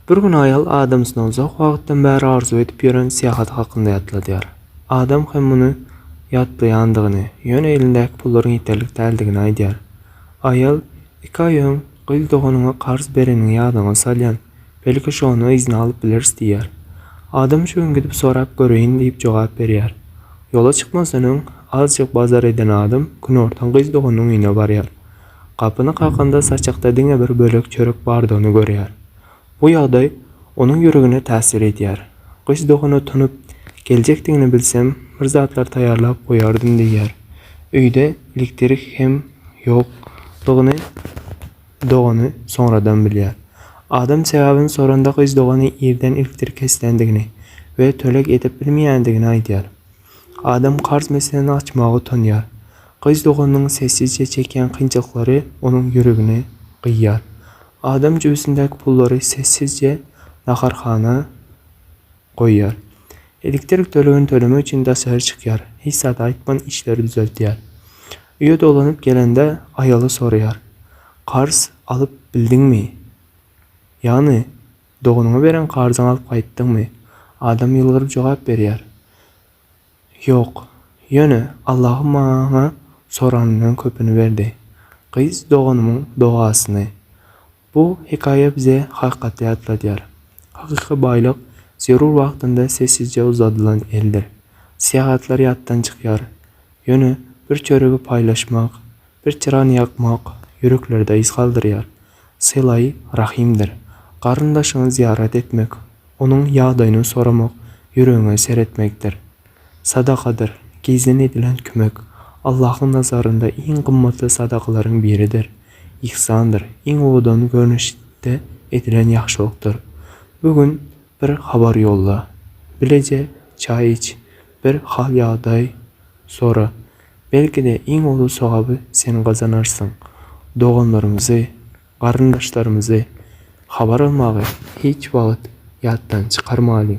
Bir gün aýal adamsyna uzak wagtdan bäri arzuw edip ýören syýahaty hakynda ýatladýar. Adam hem muny ýatlaýandygyny, ýöne elindäki pullaryň ýeterlik däldigini aýdýar. Aýal, Iki aý öň, gyz doganyňa karz bereniňi ýadyňa salýan, belki şonda yzyna alyp bileris diýýär. Adam şu gün gidip sorap göreýin diýip jogap berýär. Ýola çykmazdan öň, azjyk bazar eden adam günortan gyz doganynyň öýüne barýar. Gapyny kakanda saçakda diňe bir bölek çörek bardygyny görýär. Bu ýagdaý onuň ýüregine täsir edýär. Gyz dogana tunup geljekdigini bilsem, bir zatlar taýýarlap goýardym diýýär. Öýde elektrik hem ýokdugyny dogany soňradan bilýär. Adam sebäbini soranda gyz dogany irden elektrik kesilýändigini we töleg edip bilmeýändigini aýdýar. Adam karz meselesini açmaga utanýar. Gyz doganynyň sessizje çekýän kynçylyklary onuň ýüregini gyýýar. Adam jübüsindäki pullary sessizje naharhana goýýar. Elektrik tölegini tölemek üçin daşary çykýar, hiç zat aýtman işleri düzeltýär. Öýe dolanyp gelende aýaly soraýar, Karz alyp bildiňmi? Ýagny, doganyňa beren karzyňy alyp gaýtdyňmy? Adam ýylgyryp jogap berýär, Ýok. Ýöne Allahym maňa soranymdan köpüni berdi. Gyz doganymyň dogasyny. Bu hekaýa bize hakykaty ýatladýar. Hakyky baýlyk zerur wagtynda sessizje uzadylan eldir. Syýahatlar ýatdan çykýar. Ýöne bir çöregi paýlaşmak, Bir tirany ýakmak ýüreklerde yz galdyrýar. Sylaý rahimdir. Garyndaşyňy zyýarat etmek, onuň ýagdaýyny soramak ýüregiňe seretmekdir. Sadakadyr, gizlin edilen kömek, Allahyň nazarynda iň gymmatly sadakalaryň biridir. Yhsandyr, iň owadan görnüşde edilen ýagşylykdyr. Bu gün bir habar ýolla. Bileje çaý iç. Bir hal-ýagdaý sora. Belki-de, iň uly sogaby sen gazanarsyň. Doganlarymyzy, garyndaşlarymyzy habar almagy hiç wagt ýatdan çykarmalyň.